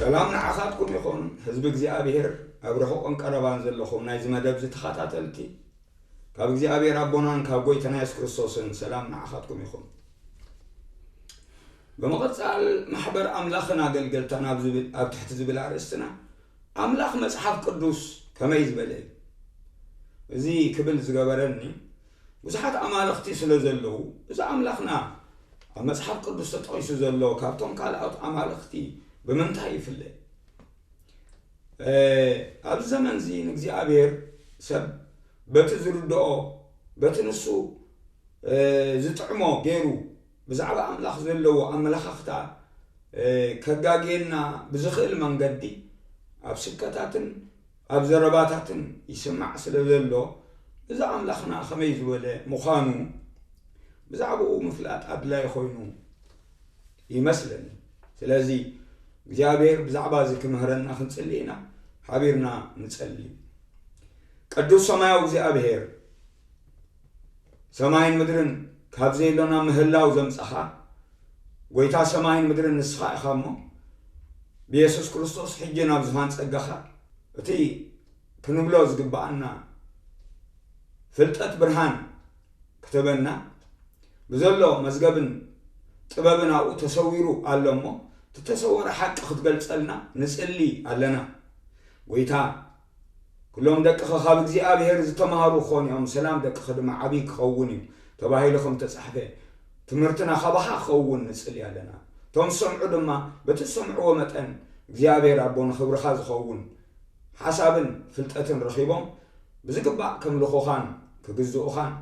ሰላም ንዓኻትኩም ይኹን ህዝቢ እግዚኣብሄር ኣብ ርሑቕን ቀረባን ዘለኹም ናይዚ መደብዚ ተኻታተልቲ ካብ እግዚኣብሄር ኣቦናን ካብ ጎይታና የሱስ ክርስቶስን ሰላም ንዓኻትኩም ይኹን። ብምቕጻል ማሕበር ኣምላኽን ኣገልገልታን ኣብ ዝብል ኣብ ትሕቲ ዝብል ኣርእስትና ኣምላኽ መጽሓፍ ቅዱስ ከመይ ዝበለ እዩ? እዚ ክብል ዝገበረኒ ብዙሓት ኣማልኽቲ ስለ ዘለዉ እዚ ኣምላኽና ኣብ መጽሓፍ ቅዱስ ተጠቒሱ ዘሎ ካብቶም ካልኦት ኣማልኽቲ ብምንታይ ይፍለ? ኣብዚ ዘመን እዚ ንእግዚኣብሔር ሰብ በቲ ዝርድኦ በቲ ንሱ ዝጥዕሞ ገይሩ ብዛዕባ ኣምላኽ ዘለዎ ኣመለኻኽታ ከጋግየና ብዝኽእል መንገዲ ኣብ ስብከታትን ኣብ ዘረባታትን ይስማዕ ስለ ዘሎ፣ እዚ ኣምላኽና ኸመይ ዝበለ ምዃኑ ብዛዕባኡ ምፍላጥ ኣድላዪ ዀይኑ ይመስለኒ። ስለዚ፣ እግዚኣብሄር ብዛዕባ እዚ ኺምህረና ኽንጽሊ ኢና። ሓቢርና ንጸሊ። ቅዱስ ሰማያዊ እግዚኣብሄር! ሰማይን ምድርን ካብ ዘየሎ ናብ ምህላው ዘምጻኻ ጐይታ ሰማይን ምድርን ንስኻ ኢኻ እሞ ብየሱስ ክርስቶስ ሕጂ ናብ ዝፋን ጸጋኻ እቲ ክንብሎ ዝግብኣና ፍልጠት ብርሃን ክተበና ብዘሎ መዝገብን ጥበብን ኣብኡ ተሰዊሩ ኣሎ እሞ እቲ ተሰወረ ሓቂ ክትገልጸልና ንጽሊ ኣለና ጐይታ ኩሎም ደቅኸ ኻብ እግዚኣብሄር ዝተማህሩ ኪዀኑ እዮም፣ ሰላም ደቅኺ ድማ ዓብዪ ኪኸውን እዩ ተባሂሉ ኸም እተጻሕፈ፣ ትምህርትና ኻባኻ ኪኸውን ንጽሊ ኣለና። እቶም ዚሰምዑ ድማ፣ በቲ ዝሰምዕዎ መጠን፣ እግዚኣብሄር ኣቦ ንኽብርኻ ዚኸውን ሓሳብን ፍልጠትን ረኺቦም፣ ብዚግባእ ኬምልኹኻን ኪግዝኡኻን፣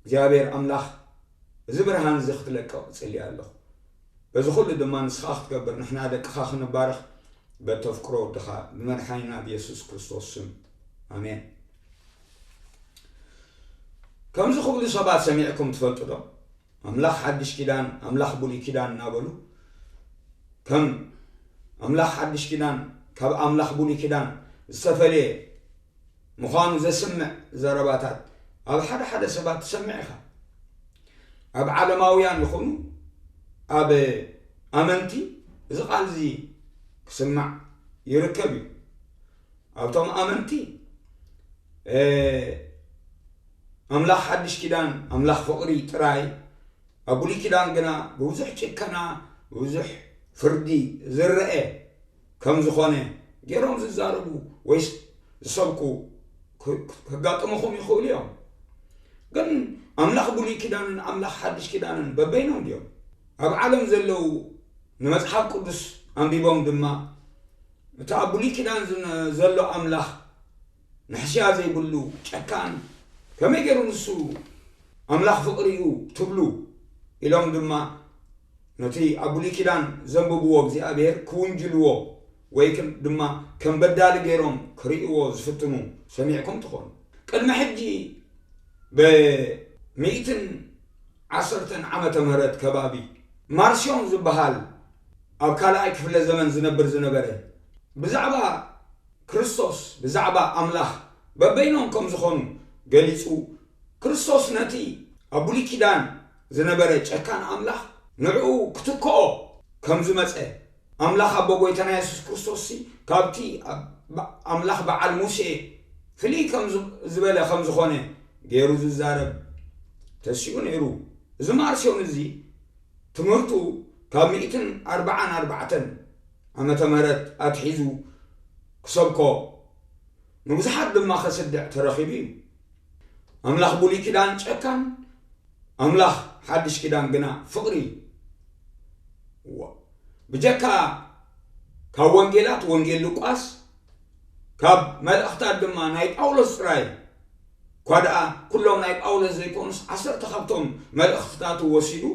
እግዚኣብሄር ኣምላኽ እዚ ብርሃን እዚ ኽትለቅቕ እጽሊ ኣለኹ። እዚ ኹሉ ድማ ንስኻ ክትገብር ንሕና ደቅኻ ክንባረኽ በተፍቅሮ ወድኻ ብመድሓኒና ብየሱስ ክርስቶስ ስም ኣሜን። ከምዚ ክብሉ ሰባት ሰሚዕኩም ትፈልጡ ዶ? ኣምላኽ ሓድሽ ኪዳን ኣምላኽ ብሉይ ኪዳን እናበሉ ከም ኣምላኽ ሓድሽ ኪዳን ካብ ኣምላኽ ብሉይ ኪዳን ዝተፈለየ ምዃኑ ዘስምዕ ዘረባታት ኣብ ሓደ ሓደ ሰባት ትሰምዕ ኢኻ። ኣብ ዓለማውያን ይኹኑ ኣብ ኣመንቲ እዚ ቃል እዚ ክስማዕ ይርከብ እዩ። ኣብቶም ኣመንቲ ኣምላኽ ሓድሽ ኪዳን ኣምላኽ ፍቕሪ ጥራይ ኣብ ብሉይ ኪዳን ግና ብብዙሕ ጭከና ብብዙሕ ፍርዲ ዝረአ ከም ዝኾነ ገይሮም ዝዛረቡ ወይስ ዝሰብኩ ከጋጥምኹም ይኽእሉ እዮም። ግን ኣምላኽ ብሉይ ኪዳንን ኣምላኽ ሓድሽ ኪዳንን በበይኖም ድዮም? ኣብ ዓለም ዘለዉ ንመጽሓፍ ቅዱስ ኣንቢቦም ድማ እቲ ኣብ ብሉይ ኪዳን ዘሎ ኣምላኽ ንሕስያ ዘይብሉ ጨካን ከመይ ጌሩ ንሱ ኣምላኽ ፍቅሪ እዩ ትብሉ ኢሎም ድማ ነቲ ኣብ ብሉይ ኪዳን ዘንብብዎ እግዚኣብሔር ክውንጅልዎ ወይ ድማ ከም በዳሊ ጌሮም ክርእይዎ ዝፍትኑ ሰሚዕኩም ትኾኑ ቅድሚ ሕጂ ብ ሚእትን ዓሰርተን ዓመተ ምህረት ከባቢ ማርሲዮን ዝብሃል ኣብ ካልኣይ ክፍለ ዘመን ዝነብር ዝነበረ ብዛዕባ ክርስቶስ ብዛዕባ ኣምላኽ በበይኖም ከም ዝዀኑ ገሊጹ፣ ክርስቶስ ነቲ ኣብ ብሉይ ኪዳን ዝነበረ ጨካን ኣምላኽ ንዕኡ ክትክኦ ከም ዝመጸ፣ ኣምላኽ ኣቦ ጐይታና የሱስ ክርስቶስሲ ካብቲ ኣምላኽ በዓል ሙሴ ፍልይ ከም ዝበለ ከም ዝዀነ ገይሩ ዝዛረብ ተሲኡ ነይሩ። እዚ ማርሲዮን እዚ ትምህርቱ ካብ ሚእትን ኣርብዓን ኣርባዕተን ዓመተ ምህረት ኣትሒዙ ክሰብኮ ንብዙሓት ድማ ከስድዕ ተረኺቡ እዩ። ኣምላኽ ብሉይ ኪዳን ጨካን፣ ኣምላኽ ሓድሽ ኪዳን ግና ፍቕሪ እዩ። ብጀካ ካብ ወንጌላት ወንጌል ሉቃስ ካብ መልእኽታት ድማ ናይ ጳውሎስ ጥራይ እኳ ደኣ ኩሎም ናይ ጳውሎስ ዘይኮኑስ ዓሰርተ ካብቶም መልእኽትታቱ ወሲዱ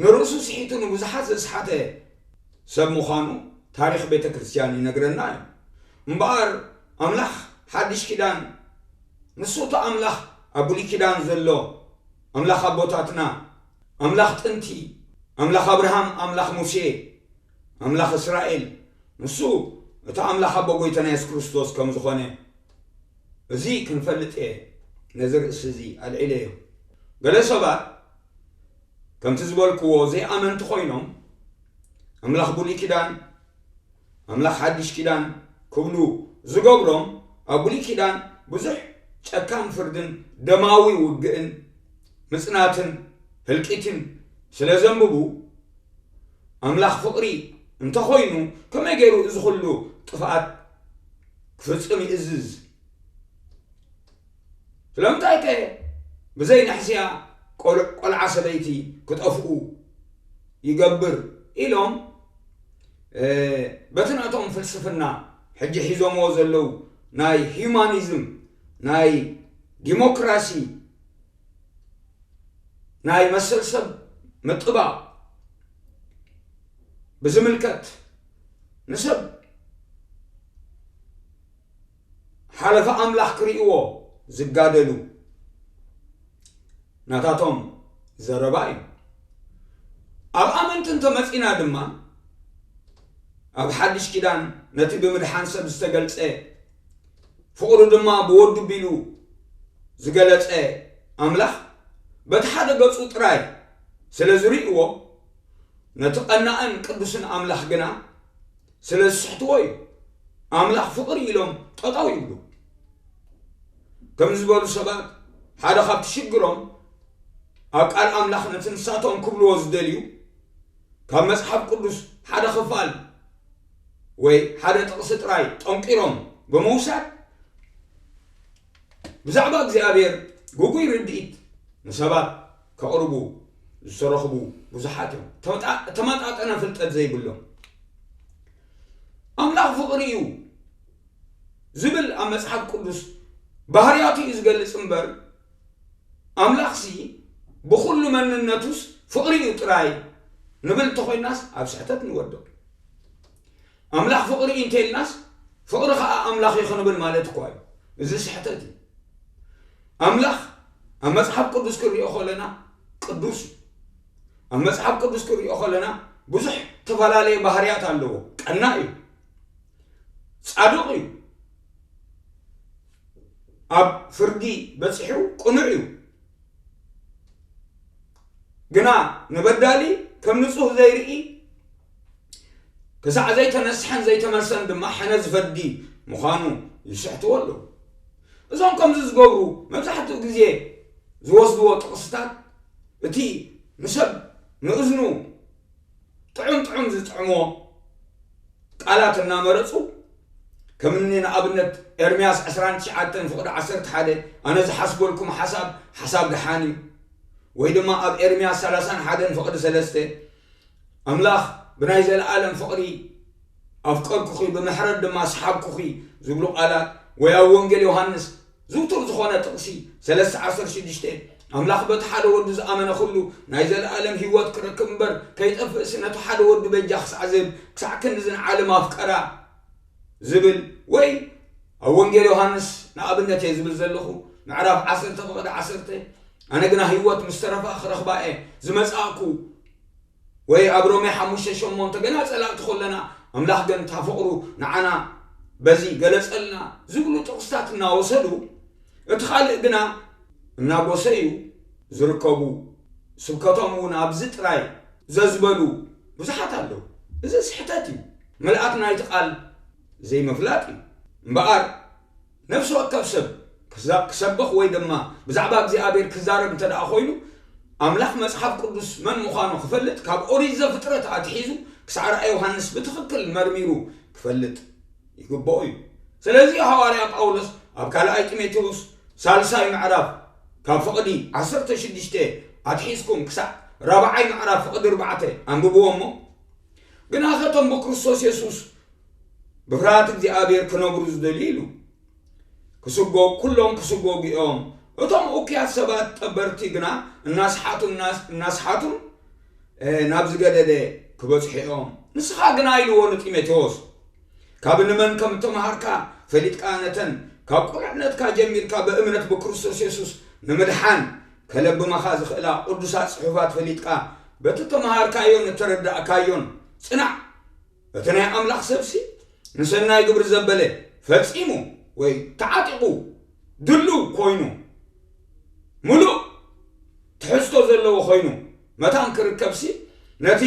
ንርእሱ ስሒቱ ንብዙሓት ዘስሓተ ሰብ ምዃኑ ታሪኽ ቤተ ክርስቲያን ይነግረና እዩ። እምበኣር ኣምላኽ ሓድሽ ኪዳን ንሱ እቲ ኣምላኽ ኣብ ብሉይ ኪዳን ዘሎ ኣምላኽ ኣቦታትና ኣምላኽ ጥንቲ ኣምላኽ ኣብርሃም ኣምላኽ ሙሴ ኣምላኽ እስራኤል ንሱ እቲ ኣምላኽ ኣቦ ጎይታና የሱስ ክርስቶስ ከም ዝኾነ እዚ ክንፈልጥ እየ ነዚ ርእሲ እዚ ኣልዒለዮ ገለ ሰባት ከምቲ ዝበልክዎ ዘይኣመንቲ ኮይኖም ኣምላኽ ብሉይ ኪዳን ኣምላኽ ሓድሽ ኪዳን ክብሉ ዝገብሮም ኣብ ብሉይ ኪዳን ብዙሕ ጨካን ፍርድን ደማዊ ውግእን ምጽናትን ህልቂትን ስለ ዘንብቡ ኣምላኽ ፍቕሪ እንተኾይኑ ከመይ ገይሩ እዚ ኩሉ ጥፍኣት ክፍጽም ይእዝዝ? ስለምንታይ ከ ብዘይ ንሕስያ ቆልዓ ሰበይቲ ክጠፍኡ ይገብር ኢሎም በቲ ናቶም ፍልስፍና ሕጂ ሒዞምዎ ዘለው ናይ ሂዩማኒዝም ናይ ዲሞክራሲ ናይ መሰል ሰብ ምጥባቕ ብዝምልከት ንሰብ ሓለፋ ኣምላኽ ክርእይዎ ዝጋደሉ ናታቶም ዘረባ እዩ። ኣብ ኣመንቲ እንተመጺእና ድማ ኣብ ሓድሽ ኪዳን ነቲ ብምድሓን ሰብ ዝተገልጸ ፍቕሩ ድማ ብወዱ ቢሉ ዝገለጸ ኣምላኽ በቲ ሓደ ገጹ ጥራይ ስለ ዝርእይዎ ነቲ ቐናእን ቅዱስን ኣምላኽ ግና ስለ ዝስሕትዎ እዩ ኣምላኽ ፍቅሪ ኢሎም ጠጠው ይብሉ ከምዚ ዝበሉ ሰባት ሓደ ካብቲ ሽግሮም ኣብ ቃል ኣምላኽ ነቲ ንሳቶም ክብልዎ ዝደልዩ ካብ መጽሓፍ ቅዱስ ሓደ ክፋል ወይ ሓደ ጥቕሲ ጥራይ ጠንቂሮም ብምውሳድ ብዛዕባ እግዚኣብሔር ግጉይ ርድኢት ንሰባት ከቕርቡ ዝተረኽቡ ብዙሓት እዮም። እተመጣጠነ ፍልጠት ዘይብሎም ኣምላኽ ፍቕሪ እዩ ዝብል ኣብ መጽሓፍ ቅዱስ ባህርያቱ እዩ ዝገልጽ እምበር ኣምላኽሲ ብኹሉ መንነቱስ ፍቕሪ እዩ ጥራይ ንብል እንተኾይናስ ኣብ ስሕተት ንወድቕ። ኣምላኽ ፍቕሪ እዩ እንተ ኢልናስ ፍቕሪ ኸኣ ኣምላኽ እዩ ክንብል ማለት እኳ እዩ። እዚ ስሕተት እዩ። ኣምላኽ ኣብ መጽሓፍ ቅዱስ ክንሪኦ ከለና ቅዱስ እዩ። ኣብ መጽሓፍ ቅዱስ ክንሪኦ ከለና ብዙሕ ተፈላለየ ባህርያት ኣለዎ። ቀናእ እዩ። ጻዱቕ እዩ። ኣብ ፍርዲ በጺሑ ቅኑዕ እዩ። ግና ንበዳሊ ከም ንጹህ ዘይርኢ ክሳዕ ዘይተነስሐን ዘይተመልሰን ድማ ሕነዝ ፈዲ ምዃኑ ይስሕትዎ ኣለዉ። እዞም ከምዚ ዝገብሩ መብዛሕትኡ ግዜ ዝወስድዎ ጥቕስታት እቲ ንሰብ ንእዝኑ ጥዑም ጥዑም ዝጥዕሞ ቃላት እናመረፁ ከምኒ ንኣብነት ኤርምያስ 29 ፍቕዲ 11 ኣነ ዝሓስበልኩም ሓሳብ ሓሳብ ደሓን እዩ ወይ ድማ ኣብ ኤርምያስ 31 ፍቕዲ 3 ኣምላኽ ብናይ ዘለኣለም ፍቕሪ ኣፍቀርኩኺ፣ ብምሕረት ድማ ሰሓብኩኺ ዝብሉ ቃላት፣ ወይ ኣብ ወንጌል ዮሃንስ ዝውቱር ዝኾነ ጥቕሲ ሰለስተ ዓሰርተ ሽዱሽተ፣ ኣምላኽ በቲ ሓደ ወዱ ዝኣመነ ኩሉ ናይ ዘለኣለም ህይወት ክረክብ እምበር ከይጠፍእስ ነቲ ሓደ ወዱ በጃ ክሳዕ ዝህብ ክሳዕ ክንድዚ ንዓለም ኣፍቀራ። ዝብል ወይ ኣብ ወንጌል ዮሃንስ ንኣብነት እየ ዝብል ዘለኹ ምዕራፍ ዓሰርተ ፍቕድ ዓሰርተ ኣነ ግና ህይወት ምስ ተረፋ ክረኽባ እየ ዝመጻእኩ ወይ ኣብ ሮሜ ሓሙሽተ ሸሞንተ ገና ጸላእቲ ኮለና ኣምላኽ ግን እታ ፍቕሩ ንዓና በዚ ገለጸልና ዝብሉ ጥቕስታት እናወሰዱ እቲ ካልእ ግና እናጎሰዩ ዝርከቡ ስብከቶም እውን ኣብዚ ጥራይ ዘዝበሉ ብዙሓት ኣለዉ እዚ ስሕተት እዩ ምልኣት ናይቲ ቃል ዘይምፍላጥ እዩ። እምበኣር፣ ነፍሲ ወከፍ ሰብ ክዛ ክሰብኽ ወይ ድማ ብዛዕባ እግዚኣብሔር ክዛረብ እንተ ደኣ ዀይኑ፣ ኣምላኽ መጽሓፍ ቅዱስ መን ምዃኑ ክፈልጥ ካብ ኦሪት ዘፍጥረት ኣትሒዙ ክሳዕ ራእይ ዮሃንስ ብትኽክል መርሚሩ ክፈልጥ ይግብኦ እዩ። ስለዚ እዩ ሃዋርያ ጳውሎስ ኣብ ካልኣይ ጢሞቴዎስ ሳልሳይ ምዕራፍ ካብ ፍቕዲ ዓሰርተ ሽዱሽተ ኣትሒዝኩም ክሳዕ ራብዓይ ምዕራፍ ፍቕዲ ኣርባዕተ ኣንብብዎ እሞ፣ ግናኸ እቶም ብክርስቶስ የሱስ ብፍርሃት እግዚኣብሔር ክነብሩ ዝደልዩ ኢሉ ክስጎ ኩሎም ክስጎጉ እዮም። እቶም እኩያት ሰባት ጠበርቲ ግና እናስሓቱ እናስሓቱን ናብ ዝገደደ ክበጽሑ እዮም። ንስኻ ግና ኢልዎ ንጢሞቴዎስ ካብ ንመን ከም እተምሃርካ ፈሊጥካ ነተን ካብ ቁልዕነትካ ጀሚርካ ብእምነት ብክርስቶስ የሱስ ንምድሓን ከለብማኻ ዝኽእላ ቕዱሳት ጽሑፋት ፈሊጥካ በቲ እተመሃርካዮን እተረዳእካዮን ጽናዕ። እቲ ናይ ኣምላኽ ሰብሲ ንሰናይ ግብሪ ዘበለ ፈጺሙ ወይ ተዓጢቑ ድሉው ኰይኑ ምሉእ ትሕዝቶ ዘለዎ ዀይኑ መታን ክርከብሲ ነቲ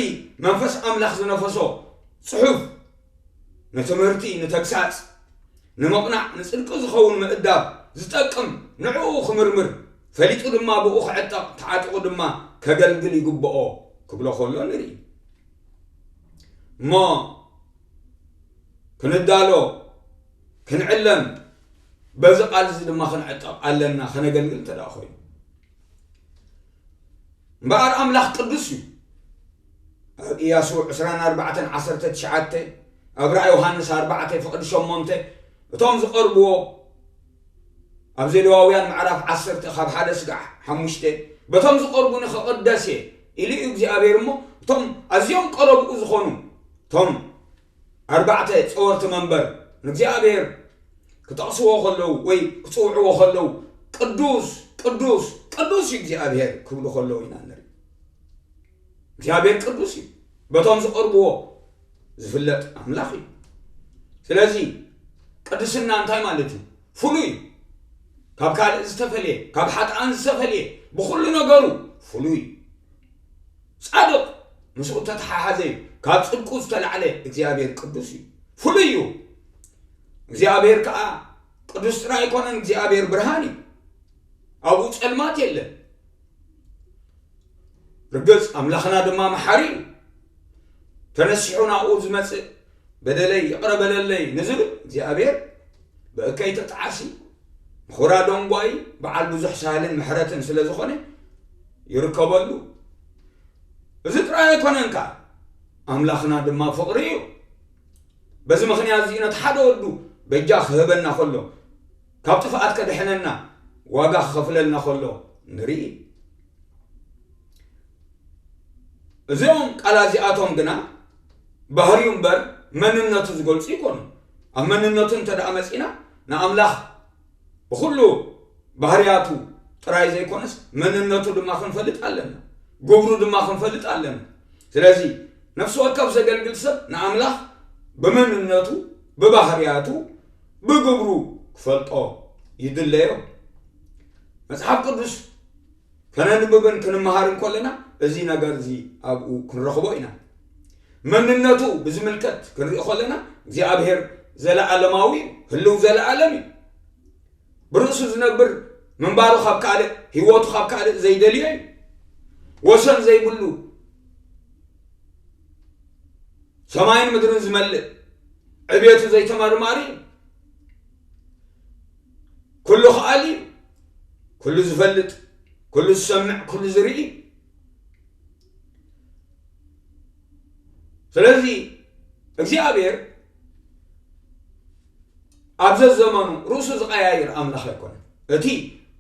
መንፈስ ኣምላኽ ዝነፈሶ ጽሑፍ ንትምህርቲ፣ ንተግሳጽ፣ ንምቕናዕ፣ ንጽድቂ ዝኸውን ምእዳብ፣ ዝጠቅም፣ ንዕኡ ክምርምር፣ ፈሊጡ ድማ ብእኡ ክዕጠቕ፣ ተዓጢቑ ድማ ከገልግል ይግብኦ ክብሎ ከሎ ንርኢ። እሞ ክንዳሎ፣ ክንዕለም፣ በዚ ቃል እዚ ድማ ክንዕጠቕ ኣለና ከነገልግል እንተ ደኣ ኮይኑ። እምበኣር ኣምላኽ ቅዱስ እዩ ኣብ ኢያሱ 2419 ኣብ ራእ ዮሃንስ 4 ፍቕዲ 8 እቶም ዝቐርብዎ ኣብ ዘሌዋውያን ምዕራፍ 10 ካብ ሓደ ስጋዕ ሓሙሽተ በቶም ዝቐርቡኒ ክቕደስ እየ ኢሉ እዩ እግዚኣብሔር እሞ እቶም ኣዝዮም ቀረብኡ ዝኾኑ እቶም ኣርባዕተ ጸወርቲ መንበር ንእግዚኣብሔር ክጠቕስዎ ከለዉ ወይ ክጽውዕዎ ከለዉ ቅዱስ ቅዱስ ቅዱስ እዩ እግዚኣብሔር ክብሉ ከለዉ ኢና ንርኢ እግዚኣብሔር ቅዱስ እዩ በቶም ዝቐርብዎ ዝፍለጥ ኣምላኽ እዩ ስለዚ ቅድስና እንታይ ማለት እዩ ፍሉይ ካብ ካልእ ዝተፈልየ ካብ ሓጥኣን ዝተፈልየ ብኩሉ ነገሩ ፍሉይ ጻድቕ ምስኡ እተተሓሓዘ እዩ፣ ካብ ጽድቁ ዝተላዕለ እግዚኣብሄር ቅዱስ እዩ፣ ፍሉይ እዩ፣ እግዚኣብሄር ከኣ ቅዱስ ጥራይ ኣይኮነን፣ እግዚኣብሄር ብርሃን እዩ፣ ኣብኡ ጸልማት የለን። ርግጽ ኣምላኽና ድማ መሓሪ እዩ፣ ተነሲሑ ናብኡ ዝመጽእ በደለይ ይቕረ በለለይ ንዝብል እግዚኣብሔር ብእከይ ተጣዓሲ ንኹራ ደንጓዪ በዓል ብዙሕ ሳህልን ምሕረትን ስለ ዝኾነ ይርከበሉ እዚ ጥራይ ኣይኮነን ከኣ ኣምላኽና ድማ ፍቕሪ እዩ በዚ ምኽንያት እዚ ነቲ ሓደ ወዱ በጃ ክህበና ከሎ ካብ ጥፍኣት ከድሕነና ዋጋ ክኸፍለልና ከሎ ንርኢ እዚኦም ቃላ እዚኣቶም ግና ባህሪኡ እምበር መንነቱ ዝገልጹ ኣይኮኑን። ኣብ መንነቱ እንተደኣ መጺእና ንኣምላኽ ብኹሉ ባህርያቱ ጥራይ ዘይኮነስ መንነቱ ድማ ክንፈልጥ ኣለና። ግብሩ ድማ ክንፈልጥ ኣለና። ስለዚ ነፍሲ ወከፍ ዘገልግል ሰብ ንኣምላኽ ብመንነቱ፣ ብባህርያቱ፣ ብግብሩ ክፈልጦ ይድለዮ። መጽሓፍ ቅዱስ ከነንብብን ክንመሃርን ከለና እዚ ነገር እዚ ኣብኡ ክንረኽቦ ኢና። መንነቱ ብዝምልከት ክንርኢ ከለና እግዚኣብሔር ዘለዓለማዊ እዩ፣ ህልው ዘለዓለም እዩ። ብርእሱ ዝነብር ምንባሩ ካብ ካልእ ህይወቱ ካብ ካልእ ዘይደልዮ እዩ። ወሰን ዘይብሉ ሰማይን ምድርን ዝመልእ ዕቤቱ ዘይተመርማሪ እዩ። ኩሉ ኸኣሊ እዩ ኩሉ ዝፈልጥ ኩሉ ዝሰምዕ ኩሉ ዝርኢ ስለዚ እግዚኣብሔር ኣብ ዘዘመኑ ርእሱ ዝቀያይር ኣምላኽ ኣይኮነን እቲ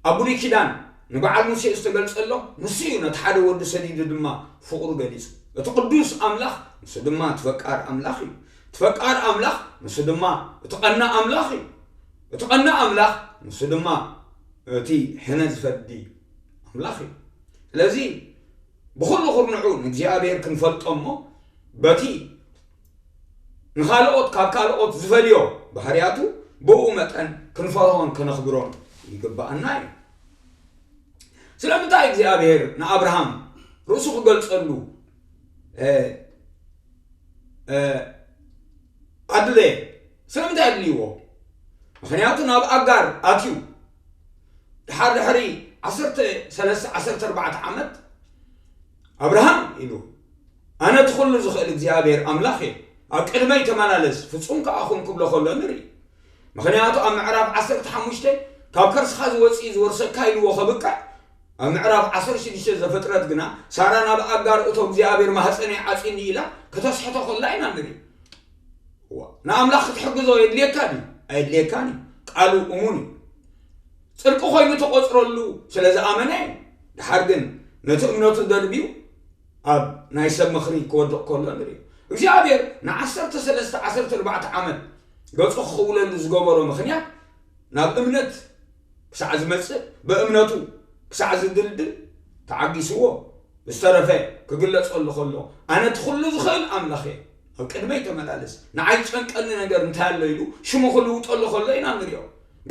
ኣብ ብሉይ ኪዳን ንበዓል ሙሴ ዝተገልጸሎ ንሱ እዩ ነቲ ሓደ ወዱ ሰዲዱ ድማ ፍቕሩ ገሊጹ እቲ ቅዱስ ኣምላኽ ንሱ ድማ እቲ ፈቃር ኣምላኽ እዩ እቲ ፈቃር ኣምላኽ ንሱ ድማ እቲ ቀና ኣምላኽ እዩ እቲ ቐንዲ ኣምላኽ ንሱ ድማ እቲ ሕነ ዝፈዲ ኣምላኽ እዩ። ስለዚ ብኹሉ ኩርንዑ ንእግዚኣብሔር ክንፈልጦ እሞ በቲ ንኻልኦት ካብ ካልኦት ዝፈልዮ ባህርያቱ ብኡ መጠን ክንፈርሆን ከነኽብሮን ይግብኣና እዩ። ስለምንታይ እግዚኣብሔር ንኣብርሃም ርእሱ ክገልጸሉ ኣድለየ? ስለምንታይ ኣድልይዎ? ምኽንያቱ ናብ ኣጋር ኣትዩ ደሓር ድሕሪ ዓሰርተ ሰለስተ ዓሰርተ ኣርባዕተ ዓመት ኣብርሃም ኢሉ ኣነ እቲ ኹሉ ዝኽእል እግዚኣብሔር ኣምላኽ እየ ኣብ ቅድመይ ተመላለስ ፍጹም ከኣ ኹን ክብሎ ከሎ ንርኢ። ምኽንያቱ ኣብ ምዕራፍ ዓሰርተ ሓሙሽተ ካብ ከርስኻ ዝወጽእ እዩ ዝወርሰካ ኢልዎ ከብቅዕ ኣብ ምዕራፍ ዓሰርተ ሽዱሽተ ዘፍጥረት ግና ሳራ ናብ ኣጋር እቶ እግዚኣብሔር ማህፀነይ ዓጺኒ ኢላ ከተስሕቶ ከላ ኢና ንርኢ ንኣምላኽ ክትሕግዞ የድልየካ ድዩ ኣየድልየካን እዩ ቃሉ እሙን እዩ ጽድቂ ኮይኑ ተቆጽረሉ ስለ ዝኣመነ እዩ ድሓር ግን ነቲ እምነቱ ደርብዩ ኣብ ናይ ሰብ ምኽሪ ክወድቕ ከሎ ንርኢ። እግዚኣብሔር ንዓሰርተ ሰለስተ ዓሰርተ ኣርባዕተ ዓመት ገጹ ክኽውለሉ ዝገበሮ ምኽንያት ናብ እምነት ክሳዕ ዝመጽእ ብእምነቱ ክሳዕ ዝድልድል ተዓጊስዎ ዝተረፈ ክግለጸሉ ከሎ ኣነ እቲ ኩሉ ዝኽእል ኣምላኽ እየ ኣብ ቅድመይ ተመላለስ ንዓይ ዝጨንቀኒ ነገር እንታይ ኣሎ ኢሉ ሽሙ ክልውጠሉ ከሎ ኢና ንሪኦ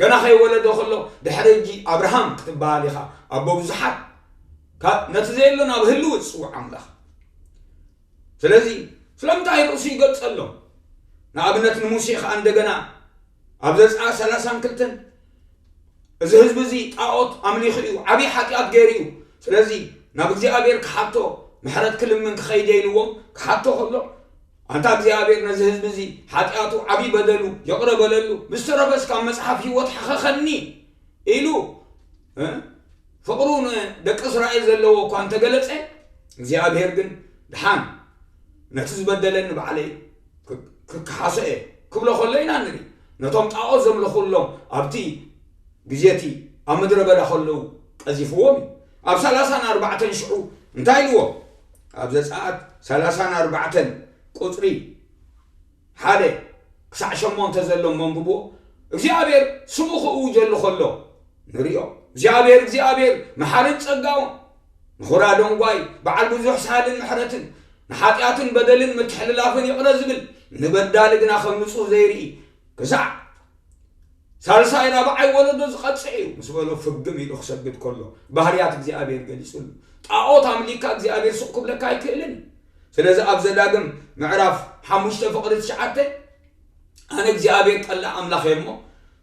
ገና ከይወለዶ ከሎ ድሕሪ እጂ ኣብርሃም ክትበሃል ኢኻ ኣቦ ብዙሓት ካብ ነቲ ዘየሎ ናብ ህልው ዝጽውዕ ኣምላኽ ስለዚ ስለምንታይ ርእሱ ይገልጸሎም ንኣብነት ንሙሴ ኸኣ እንደገና ኣብ ዘጽኣ ሰላሳን ክልተን እዚ ህዝቢ እዚ ጣዖት ኣምሊኹ እዩ ዓብዪ ሓጢኣት ገይሩ እዩ ስለዚ ናብ እግዚኣብሔር ክሓቶ ምሕረት ክልምን ክኸይደ ኢልዎም ክሓቶ ከሎ ኣንታ እግዚኣብሔር ነዚ ህዝቢ እዚ ሓጢኣቱ ዓብዪ በደሉ ይቕረ በለሉ ምስ ተረፈስ ካብ መጽሓፍ ህይወት ሓኸኸኒ ኢሉ ፍቕሩ ንደቂ እስራኤል ዘለዎ እኳ እንተ ገለጸ፣ እግዚኣብሄር ግን ደሓን ነቲ ዝበደለኒ ባዕለይ ክከሓሶ እየ ክብሎ ከሎ ኢና ንርኢ። ነቶም ጣኦት ዘምልኹሎም ኣብቲ ግዜ እቲ ኣብ ምድረ በዳ ከለዉ ቀዚፍዎም እዩ። ኣብ ሰላሳን ኣርባዕተን ሽዑ እንታይ ኢልዎም? ኣብ ዘጸኣት ሰላሳን ኣርባዕተን ቁጽሪ ሓደ ክሳዕ ሸሞንተ ዘሎ እሞ ኣንብብዎ። እግዚኣብሔር ስሙ ክእውጀሉ ከሎ ንርእዮ። እግዚኣብሔር እግዚኣብሔር መሓርን ጸጋውን፣ ንዅራ ደንጓይ፣ በዓል ብዙሕ ሳህልን ምሕረትን፣ ንሓጢኣትን በደልን ምትሕልላፍን ይቕረ ዝብል፣ ንበዳሊ ግና ከም ንጹህ ዘይርኢ፣ ክሳዕ ሳልሳይ ራብዓይ ወለዶ ዝቐጽዕ እዩ ምስ በሎ ፍግም ኢሉ ክሰግድ ከሎ ባህርያት እግዚኣብሔር ገሊጽሉ። ጣኦት ኣምሊኽካ እግዚኣብሔር ስቕ ክብለካ ኣይክእልን እዩ። ስለዚ ኣብ ዘዳግም ምዕራፍ ሓሙሽተ ፍቕዲ ትሽዓተ ኣነ እግዚኣብሔር ጠላዕ ኣምላኽ እየ እሞ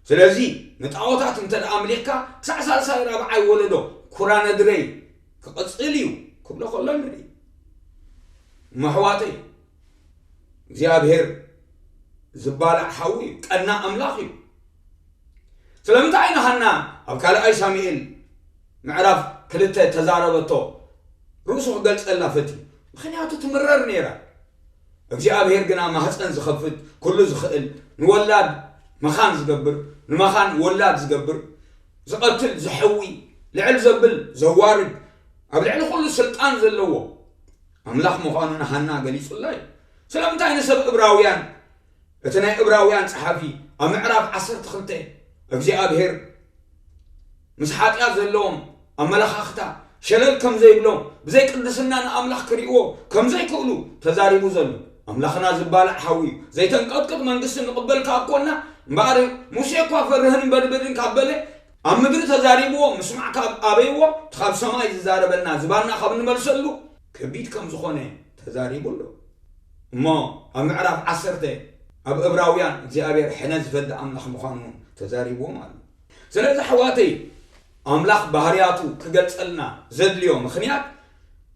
ስለዚ ንጣዖታት እንተ ኣምሊኽካ ክሳዕ ሳልሳይ ራብዓይ ወለዶ ኩራ ነድረይ ክቕጽል እዩ ክብሎ ከሎ ንርኢ እሞ ኣሕዋተይ እግዚኣብሔር ዝባላዕ ሓዊ እዩ ቀና ኣምላኽ እዩ ስለምንታይ ኢና ሃና ኣብ ካልኣይ ሳሙኤል ምዕራፍ ክልተ እተዛረበቶ ርእሱ ክገልጸልና ፈትዩ፣ ምኽንያቱ ትምረር ነይራ። እግዚኣብሄር ግና ማህጸን ዝኸፍት፣ ኩሉ ዝኽእል፣ ንወላድ መኻን ዝገብር፣ ንመኻን ወላድ ዝገብር፣ ዝቐትል፣ ዘሕዊ፣ ልዕል ዘብል፣ ዘዋርድ፣ ኣብ ልዕሊ ኩሉ ስልጣን ዘለዎ ኣምላኽ ምዃኑ ንሃና ገሊጹላ እዩ። ስለምንታይ ንሰብ እብራውያን እቲ ናይ እብራውያን ጸሓፊ ኣብ ምዕራፍ ዓሰርተ ክልተ እግዚኣብሔር ምስ ሓጢኣት ዘለዎም ኣመለኻኽታ ሸለል ከም ዘይብሎም ብዘይ ቅድስና ንኣምላኽ ክርእይዎ ከም ዘይክእሉ ተዛሪቡ ዘሎ ኣምላኽና ዝባላዕ ሓዊ እዩ ዘይተንቀጥቅጥ መንግስቲ ንቕበል ካብ ኮና እምበኣር ሙሴ እኳ ፈርህን በድብድን ካብ በለ ኣብ ምድሪ ተዛሪብዎ ምስማዕ ካብ ኣበይዎ እቲ ካብ ሰማይ ዝዛረበና ዝባና ካብ ንመልሰሉ ከቢድ ከም ዝኾነ ተዛሪቡ ኣሎ እሞ ኣብ ምዕራፍ ዓሰርተ ኣብ እብራውያን እግዚኣብሔር ሕነ ዝፈዲ ኣምላኽ ምዃኑ እውን ተዛሪብዎም ኣሎ። ስለዚ ኣሕዋተይ ኣምላኽ ባህርያቱ ክገልጸልና ዘድልዮ ምኽንያት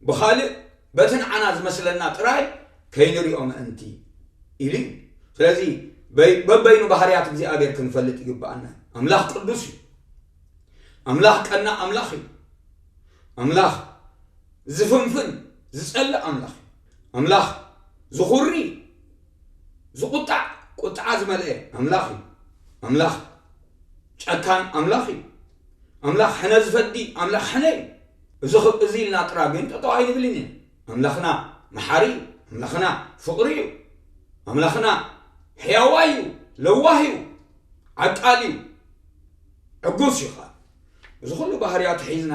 ብኻልእ በቲ ንዓና ዝመስለና ጥራይ ከይንሪኦ ምእንቲ ኢሉ እዩ። ስለዚ በበይኑ ባህርያት እግዚኣብሔር ክንፈልጥ ይግብኣና እዩ። ኣምላኽ ቅዱስ እዩ። ኣምላኽ ቀናእ ኣምላኽ እዩ። ኣምላኽ ዝፍንፍን ዝጸልእ ኣምላኽ እዩ። ኣምላኽ ዝኹሪ ዝቑጣዕ ቁጥዓ ዝመልአ ኣምላኽ እዩ። ኣምላኽ ጨካን ኣምላኽ እዩ። ኣምላኽ ሕነ ዝፈዲ ኣምላኽ ሕነ እዩ። እዚ እዚ ኢልና ጥራ ግን ጠጠው ኣይንብልን ኢና ኣምላኽና መሓሪ እዩ ኣምላኽና ፍቕሪ እዩ ኣምላኽና ሕያዋ እዩ ለዋህ እዩ ኣጣልዩ ዕጉስ እዩ ከኣ እዚ ኩሉ ባህርያቱ ሒዝና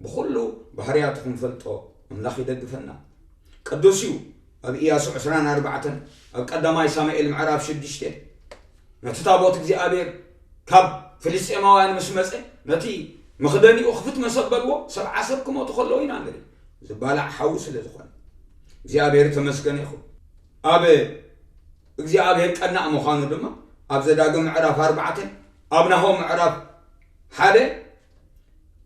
ብኩሉ ባህርያቱ ክንፈልጦ ኣምላኽ ይደግፈና ቅዱስ እዩ ኣብ ኢያሱ ዕስራን ኣርባዕተን ኣብ ቀዳማይ ሳሙኤል ምዕራፍ ሽዱሽተ ነቲ ታቦት እግዚኣብሔር ካብ ፍልስጤማውያን ምስ መፀ ነቲ መኽደኒኡ ክፍት መሰበልዎ ሰብዓ ሰብ ክመቱ ከለዉ ኢና ንርኢ ዝባላዕ ሓዊ ስለ ዝኾነ እግዚኣብሔር ተመስገነ ይኹን ኣብ እግዚኣብሔር ቀናእ ምዃኑ ድማ ኣብ ዘዳግም ምዕራፍ ኣርባዕተ፣ ኣብ ናሆም ምዕራፍ ሓደ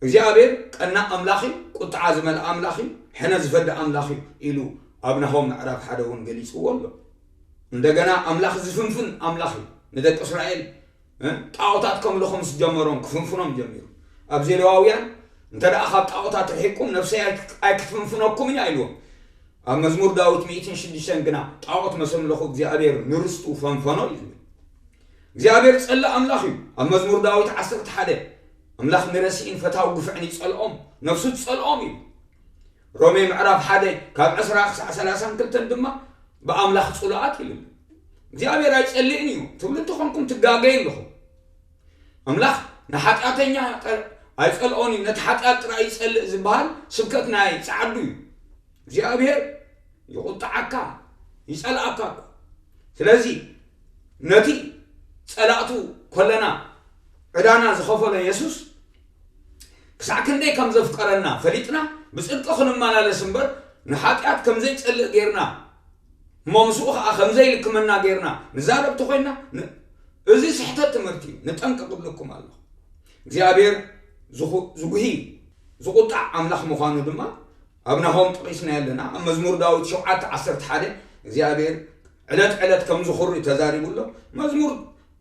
እግዚኣብሔር ቀናእ ኣምላኽ እዩ፣ ቁጥዓ ዝመልኣ ኣምላኽ እዩ፣ ሕነ ዝፈዲ ኣምላኽ እዩ ኢሉ ኣብ ናሆም ምዕራፍ ሓደ እውን ገሊጽዎ ኣሎ። እንደገና ኣምላኽ ዝፍንፍን ኣምላኽ እዩ፣ ንደቂ እስራኤል ጣኦታት ከምልኹ ምስ ጀመሮም ክፍንፍኖም ጀሚሩ ኣብ ዜሌዋውያን እንተ ካብ ጣኦታት ርሒቅኩም ነፍሰይ ኣይክፍንፍነኩምን እያ ኢልዎም ኣብ መዝሙር ዳዊት ሚእትን ሽዱሽተን ግና ጣኦት መሰምልኹ እግዚኣብሔር ንርስቱ ፈንፈኖ እዩ ዝብል እግዚኣብሔር ጸላእ ኣምላኽ እዩ ኣብ መዝሙር ዳዊት ዓሰርተ ሓደ ኣምላኽ ንረሲእን ፈታዊ ግፍዕን ይጸልኦም ነፍሱ ትጸልኦም እዩ ሮሜ ምዕራፍ ሓደ ካብ ዕስራ ክሳዕ ሰላሳን ክልተን ድማ ብኣምላኽ ጽሉኣት ኢሉ ኣሎ። እግዚኣብሔር ኣይጸልእን እዩ ትብሉ እንተኾንኩም ትጋገዩ ኣለኹም። ኣምላኽ ንሓጢኣተኛ ኣይጸልኦን እዩ ነቲ ሓጢኣት ጥራይ ይጸልእ ዝበሃል ስብከት ናይ ጸዓዱ እዩ። እግዚኣብሔር ይቑጣዓካ ይጸልኣካ እኮ ስለዚ ነቲ ጸላእቱ ኮለና ዕዳና ዝኸፈሎ የሱስ ክሳዕ ክንደይ ከም ዘፍቀረና ፈሊጥና ብጽድቂ ክንመላለስ እምበር ንሓጢኣት ከም ዘይጸልእ ጌርና እሞ ምስኡ ኸኣ ከም ዘይልክመና ጌርና ንዛረብ ተኾይንና እዚ ስሕተት ትምህርቲ እዩ ንጠንቀቕ እብለኩም ኣለኹ እግዚኣብሔር ዝጉሂ ዝቑጣዕ ኣምላኽ ምዃኑ ድማ ኣብ ናሆም ጠቒስናዮ ኣለና ኣብ መዝሙር ዳዊት ሸውዓተ ዓሰርተ ሓደ እግዚኣብሔር ዕለት ዕለት ከም ዝኹሪ ተዛሪቡ ኣሎ መዝሙር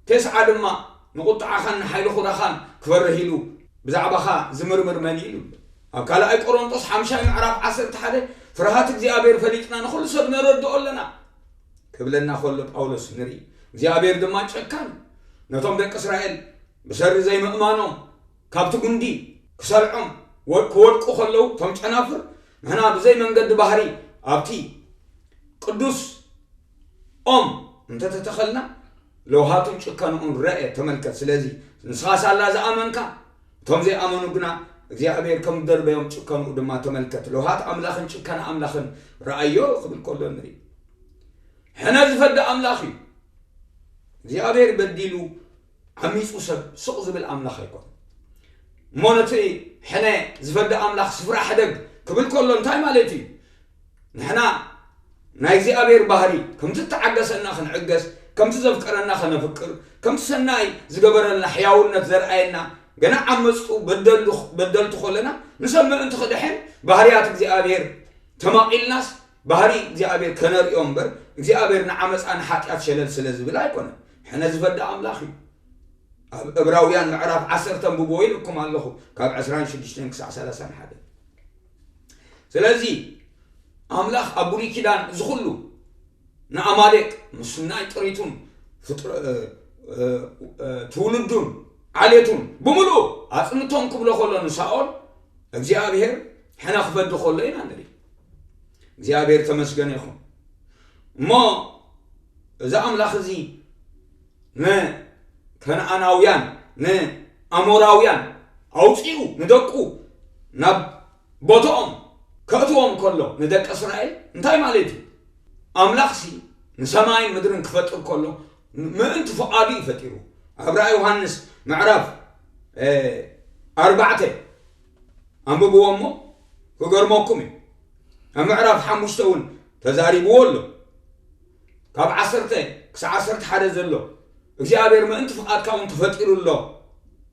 ተስዓ ድማ ንቝጥዓኻን ንሓይሊ ዅራኻን ክፈርህ ኢሉ ብዛዕባኻ ዚምርምር መን እዩ? ኢሉ። ኣብ ካልኣይ ቈረንጦስ ሓምሻይ ምዕራፍ ዓሰርተ ሓደ ፍርሃት እግዚኣብሄር ፈሊጥና ንዅሉ ሰብ ነረድኦ ኣለና ክብለና ከሎ ጳውሎስ ንርኢ። እግዚኣብሄር ድማ ጨካን እዩ። ነቶም ደቂ እስራኤል ብሰሪ ዘይምእማኖም ካብቲ ጕንዲ ክሰልዖም ክወድቁ ከለዉ እቶም ጨናፍር ንሕና ብዘይ መንገዲ ባህሪ ኣብቲ ቅዱስ ኦም እንተተተኸልና ለውሃቱን ጭከንኡን ረኤ ተመልከት ስለዚ ንስኻ ሳላ ዝኣመንካ እቶም ዘይኣመኑ ግና እግዚኣብሔር ከም ዝደርበዮም ጭከንኡ ድማ ተመልከት ለውሃት ኣምላኽን ጭከና ኣምላኽን ረኣዮ ክብል ከሎ ንርኢ ሕነ ዝፈዲ ኣምላኽ እዩ እግዚኣብሔር በዲሉ ዓሚፁ ሰብ ስቕ ዝብል ኣምላኽ ኣይኮን እሞ ነቲ ሕነ ዝፈዲ ኣምላኽ ስፍራ ሕደግ ክብል ከሎ እንታይ ማለት እዩ ንሕና ናይ እግዚኣብሔር ባህሪ ከምቲ እተዓገሰና ክንዕገስ ከምቲ ዘፍቀረና ከነፍቅር ከምቲ ሰናይ ዝገበረልና ሕያውነት ዘርኣየና ገና ዓመፅቱ በደልቱ ከለና ንሰብ ምእንቲ ክድሕን ባህርያት እግዚኣብሔር ተማቒልናስ ባህሪ እግዚኣብሔር ከነርእዮ እምበር እግዚኣብሔር ንዓመፃ ንሓጢኣት ሸለል ስለ ዝብል ኣይኮነን ሕነ ዝፈዲ ኣምላኽ እዩ ኣብ እብራውያን ምዕራፍ ዓሰርተ ንብቦ ኢለኩም ኣለኹ ካብ ዕስራን ሽዱሽተን ክሳዕ ሰላሳን ሓደ ስለዚ ኣምላኽ ኣብ ብሉይ ኪዳን እዚ ኩሉ ንኣማሌቅ ምስ ናይ ጥሪቱን ትውልዱን ዓሌቱን ብምሉእ ኣጽንቶም ክብሎ ከሎ ንሳኦል እግዚኣብሔር ሕነ ክፈዲ ከሎ ኢና ንርኢ እግዚኣብሔር ተመስገነ ይኹን እሞ እዚ ኣምላኽ እዚ ንከነኣናውያን ንኣሞራውያን ኣውጺኡ ንደቁ ናብ ቦትኦም ከእትዎም ከሎ ንደቂ እስራኤል እንታይ ማለት እዩ ኣምላኽሲ ንሰማይን ምድርን ክፈጥር ከሎ ምእንቲ ፍቓዱ እዩ ፈጢሩ ኣብ ራእይ ዮሃንስ ምዕራፍ ኣርባዕተ ኣንብብዎ እሞ ክገርመኩም እዩ ኣብ ምዕራፍ ሓሙሽተ እውን ተዛሪብዎ ኣሎ ካብ ዓሰርተ ክሳዕ ዓሰርተ ሓደ ዘሎ እግዚኣብሔር ምእንቲ ፍቓድካ እውን ተፈጢሩ ኣሎ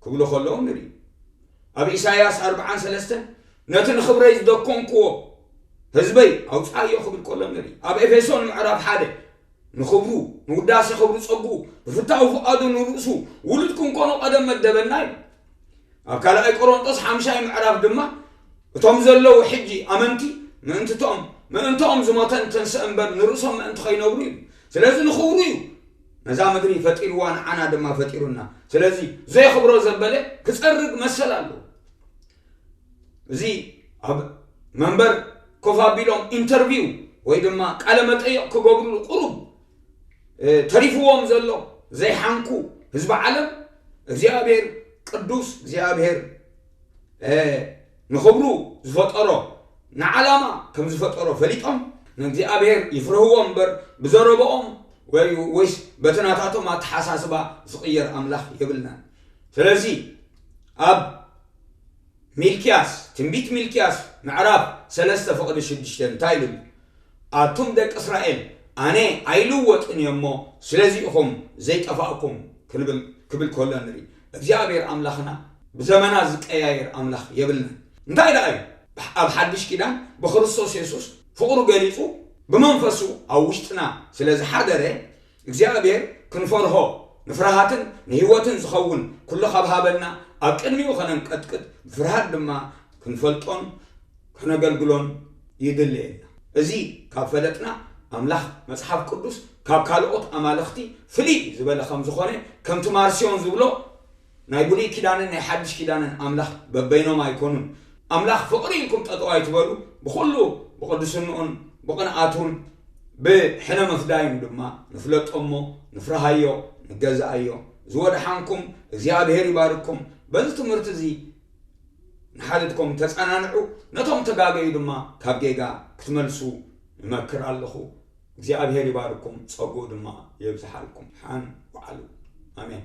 ክብሉ ከለዉ ንርኢ ኣብ ኢሳይያስ ኣርብዓን ሰለስተን ነቲ ንኽብረይ ዝደኮንክዎ ህዝበይ ኣውፅኣዮ ክብል ከሎ ንርኢ ኣብ ኤፌሶን ምዕራፍ ሓደ ንኽብሩ ንውዳሴ ክብሩ ጸግኡ ብፍታዊ ፍቓዱ ንርእሱ ውሉድ ክንኮኖ ቀደም መደበና ኢሉ ኣብ ካልኣይ ቆሮንጦስ ሓምሻይ ምዕራፍ ድማ እቶም ዘለዉ ሕጂ ኣመንቲ ምእንትቶም ምእንትኦም ዝሞተን ተንስእ እምበር ንርእሶም ምእንቲ ከይነብሩ ኢሉ ስለዚ ንኽብሩ እዩ ነዛ ምድሪ ፈጢርዋ ንዓና ድማ ፈጢሩና ስለዚ ዘየኽብሮ ዘበለ ክጸርግ መሰል ኣለዎ እዚ ኣብ መንበር ኮፍ ኣቢሎም ኢንተርቪው ወይ ድማ ቃለ መጠየቕ ክገብርሉ ቁሩብ ተሪፍዎም ዘሎ ዘይሓንኩ ህዝቢ ዓለም እግዚኣብሔር ቅዱስ እግዚኣብሔር ንኽብሩ ዝፈጠሮ ንዓላማ ከም ዝፈጠሮ ፈሊጦም ንእግዚኣብሔር ይፍርህዎ እምበር ብዘረበኦም ወይስ በቲ ናታቶም ኣተሓሳስባ ዝቕየር ኣምላኽ የብልናን ስለዚ ኣብ ሚልክያስ ትንቢት ሚልክያስ ምዕራፍ ሰለስተ ፍቕዲ ሽዱሽተ እንታይ ኢሉ ኣሎ ኣቱም ደቂ እስራኤል ኣነ ኣይልወጥን እየ እሞ ስለዚ ኢኹም ዘይጠፋእኩም ክብል ከሎ ንርኢ እግዚኣብሔር ኣምላኽና ብዘመና ዝቀያየር ኣምላኽ የብልናን እንታይ ደኣ እዩ ኣብ ሓድሽ ኪዳን ብክርስቶስ የሱስ ፍቅሩ ገሊጹ ብመንፈሱ ኣብ ውሽጥና ስለ ዝሓደረ እግዚኣብሔር ክንፈርሆ ንፍርሃትን ንህይወትን ዝኸውን ኩሉ ካብ ሃበና ኣብ ቅድሚኡ ከነንቀጥቅጥ ብፍርሃት ድማ ክንፈልጦን ከነገልግሎን ይድልየና። እዚ ካብ ፈለጥና ኣምላኽ መጽሓፍ ቅዱስ ካብ ካልኦት ኣማልኽቲ ፍልይ ዝበለ ከም ዝኾነ ከምቲ ማርሲዮን ዝብሎ ናይ ብሉይ ኪዳንን ናይ ሓድሽ ኪዳንን ኣምላኽ በበይኖም ኣይኮኑን። ኣምላኽ ፍቕሪ ኢልኩም ጠጠው ኣይትበሉ ብኹሉ ብቕድስንኡን ብቕንኣቱን ብሕነ ምፍዳዩን ድማ ንፍለጦ እሞ ንፍርሃዮ ንገዝኣዮ። ዝወድሓንኩም እግዚኣብሔር ይባርኩም በዚ ትምህርቲ እዚ ንሓድግኩም ተጸናንዑ፣ ነቶም እተጋገዩ ድማ ካብ ጌጋ ክትመልሱ እመክር ኣለኹ። እግዚኣብሄር ይባርኩም፣ ጸግኡ ድማ የብዝሓልኩም። ሓን ውዓሉ። ኣሜን።